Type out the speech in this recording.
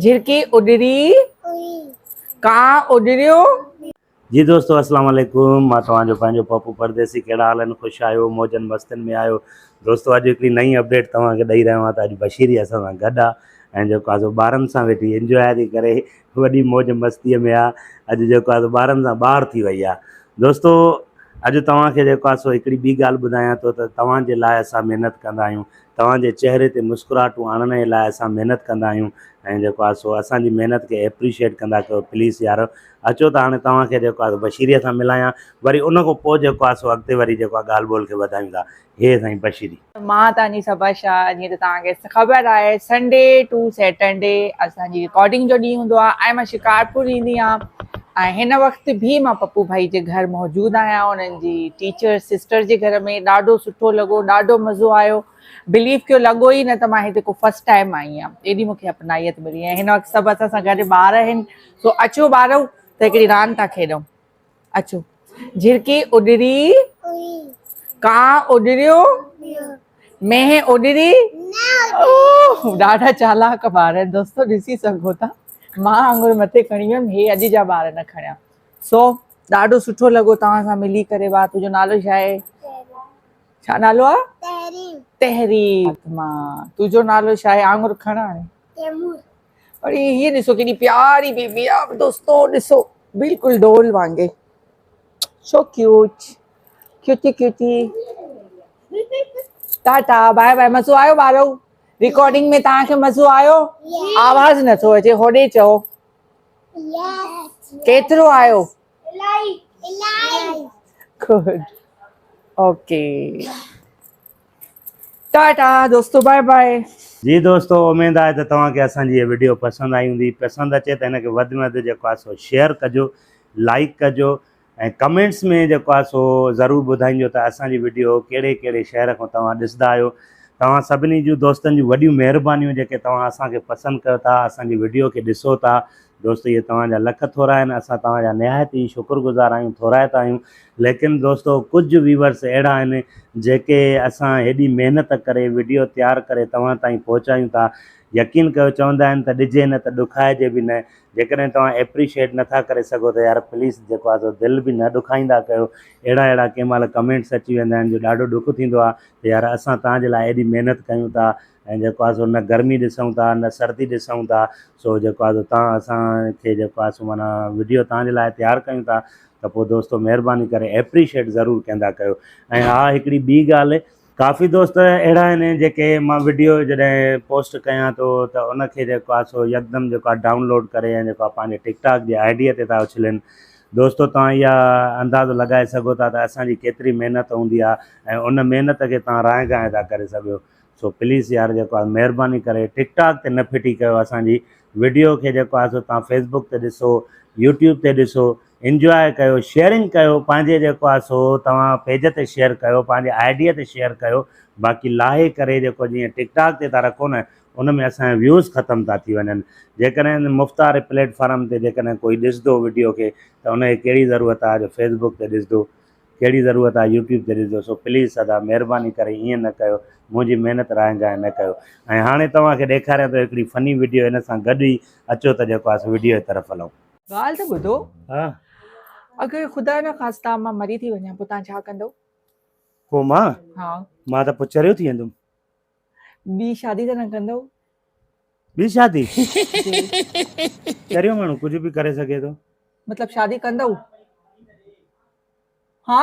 جھرڪي اڏري ڪانء اڏريو. جي دوستو السلام عليڪم مان توهان جو پنهنجو پپو پرديسي ڪهڙا حال آهن خوش آهيو موجن مستين ۾ آهيو دوستو اڄ هڪڙي نئين اپڊيٽ توهان کي ڏئي رهيو آهيان ته اڄ بشيري اسان سان گڏ آهي ۽ جيڪو آهي سو ٻارن سان ويٺي انجواء ٿي ڪري وڏي موج مستيء ۾ آهي اڄ جيڪو آهي سو ٻارن سان ٻاهر ٿي وئي آهي دوستو اڄ توهان کي جيڪو آهي سو هڪڙي ٻي ڳالهه ٻڌايان ٿو ته توهان جي لاء اسان محنت ڪندا آهيون توهان جي چهري تي مسڪراهٽون آڻڻ جي لاء اسان محنت ڪندا آهيون ۽ جيڪو آهي سو اسان جي محنت کي ايپريشيئيٽ ڪندا ڪيو پليز يارو اچو ته هاڻي توهان کي جيڪو آهي بشيري سان ملايان وري ان کان پوء جيڪو آهي سو اڳتي وري جيڪو آهي ڳالهه ٻولهه کي وڌايون ٿا هي سائين بشيري. مان توهان جي صبا شاهه جيئن ته توهان کي خبر آهي سنڊي ٽو سيٽرڊي اسان جي رڪارڊنگ جو ڏينهن هوندو آهي ۽ مان شڪارپور ايندي آهيان ۽ هن وقت ڀي مان پپو ڀائي جي گهر موجود آهيان انهن جي ٽيچر سسٽر جي گهر ۾ ڏاڍو سٺو لڳو ڏاڍو مزو آيو بليف ڪيو لڳو ئي نه ته مان هتي ڪو فرسٽ ٽائيم آئي آهيان ايڏي مونکي اپنائيت ملي ۽ هن وقت سڀ اسان سان گڏ ٻار آهن سو اچو ٻارو ته هڪڙي راند ٿا کيڏون اچو جھرڪي اڏري ڪانء اڏريو مينهن اڏري اوه ڏاڍا چالاڪ ٻار آهن دوستو ڏسي سگهو ٿا مان آڱر مٿي کڻي ويم هي اڄ جا ٻار نه کڻيا سو ڏاڍو سٺو لڳو توهان سان ملي ڪري وا تنهنجو نالو ڇا آهي ڇا نالو آهي تحريم تحريم مان تنهنجو نالو ڇا آهي آڱر کڻ هاڻي تيمور پر هي ڏسو ڪيڏي پياري بيبي آهي دوستو ڏسو بلڪل ڊول وانگي so cute cutie cutie tata bye bye مزو آيو ٻارو رڪارڊنگ ۾ توهان کي مزو آيو آواز نٿو اچي هوڏي چئو ڪيترو آيو گڊ اوڪي ٽاٽا دوستو بائي بائي جي دوستو اميد آهي ته توهان کي اسان جي هي وڊيو پسند آئي هوندي پسند اچي ته هن کي وڌ ۾ وڌ جيڪو آهي سو شيئر ڪجو لائڪ ڪجو ۽ ڪمينٽس ۾ جيڪو آهي سو ضرور ٻڌائينجو ته اسان جي وڊيو ڪهڙي ڪهڙي شهر کان توهان ڏسندا آهيو توهان سڀني جون دوستن جون وڏيون مهربانيون جيڪي توهان اسان کي پسند ڪيو ٿا اسان جي وڊيو کي ڏسو ٿا دوستو اهي توهان جا لک ٿورا آهن اسان توهان جا نهايت ئي شڪر گذار آهيون ٿورائتا آهيون ليڪن دوستو ڪجهه ويورس اهڙا آهن جيڪي اسان هيڏي محنت ڪري وڊيو تيار ڪري توهان تائين پهچايون ٿا يقين ڪيو چوندا آهن ته ڏجي نه ته ڏکائجي به نه جيڪڏهن توهان ايپريشيئٽ نٿا ڪري سگهو ته يار پليز جيڪو آهي سو دل به نه ڏکائيندا ڪيو اهڙا اهڙا ڪنهن مهل ڪمينٽس اچي ويندا آهن جو ڏاڍو ڏک ٿيندو آهي ته يار اسان توهان جي لاء ايڏي محنت ڪيون ٿا ۽ جيڪو آهي سو نه گرمي ڏسون ٿا نه سردي ڏسون ٿا سو جيڪو آهي سو توهان اسانکي جيڪو آهي سو معنيٰ وڊيو توهان جي لاء تيار ڪيون ٿا ته پوء دوستو مهرباني ڪري ايپريشيئٽ ضرور ڪندا ڪيو ۽ ها هڪڙي ٻي ڳالهه ڪافي دوست اهڙا آهن جيڪي مان وڊيو جڏهن پوسٽ ڪيان ٿو ته ان کي جيڪو آهي سو يڪدم جيڪو آهي ڊائونلوڊ ڪري ۽ جيڪو آهي پنهنجي ٽڪ ٽاڪ جي آئي ڊيء تي ٿا اڇلين دوستو توهان اها اندازو لڳائي سگهو ٿا ته اسان جي ڪيتري محنت هوندي آهي ۽ ان محنت کي توهان رانء گانء ٿا ڪري سگهيو سو پليز يار جيڪو آهي مهرباني ڪري ٽڪ ٽاڪ تي نه ڦٽي ڪيو اسان جي وڊيو کي جيڪو آهي سو توهان فيسبوڪ تي ڏسو يوٽيوب تي ڏسو انجواء ڪيو شيئرنگ ڪيو پنهنجي جيڪو آ سو توهان پيج تي شيئر ڪيو پنهنجي آئي ڊي تي شيئر ڪيو باقي لاهي ڪري جيڪو جيئن ٽڪ ٽاڪ تي ٿا رکو نه ان ۾ اسان جا ويوز ختم ٿا ٿي وڃن جيڪڏهن مفت واري پليٽ فارم تي جيڪڏهن ڪوئي ڏسندو وڊيو کي ته ان کي ڪهڙي ضرورت آ جو فيس بڪ تي ڏسندو ڪهڙي ضرورت آ يوٽيوب تي ڏسندو سو پليز ادا مهرباني ڪري ايئن نه ڪيو منهنجي محنت رائين جايو نه ڪيو ۽ هاڻي توهان کي ڏيکاريان ٿو هڪڙي فني وڊيو ان سان گڏ ئي اچو ته جيڪو آ سو وڊيو جي طرف هلون. ڳالهه ته ٻڌو. ها. اگر خدا نه خاستا مان مري ٿي وڃان پوء توهان ڇا ڪندئو؟ ڪو مان؟ ها. مان ته پوء چريو ٿي ويندم. ٻي شادي ته نه ڪندئو؟ ٻي شادي؟ چريو ماڻهو ڪجهه به ڪري سگهي ٿو. مطلب شادي ڪندئو؟ ها.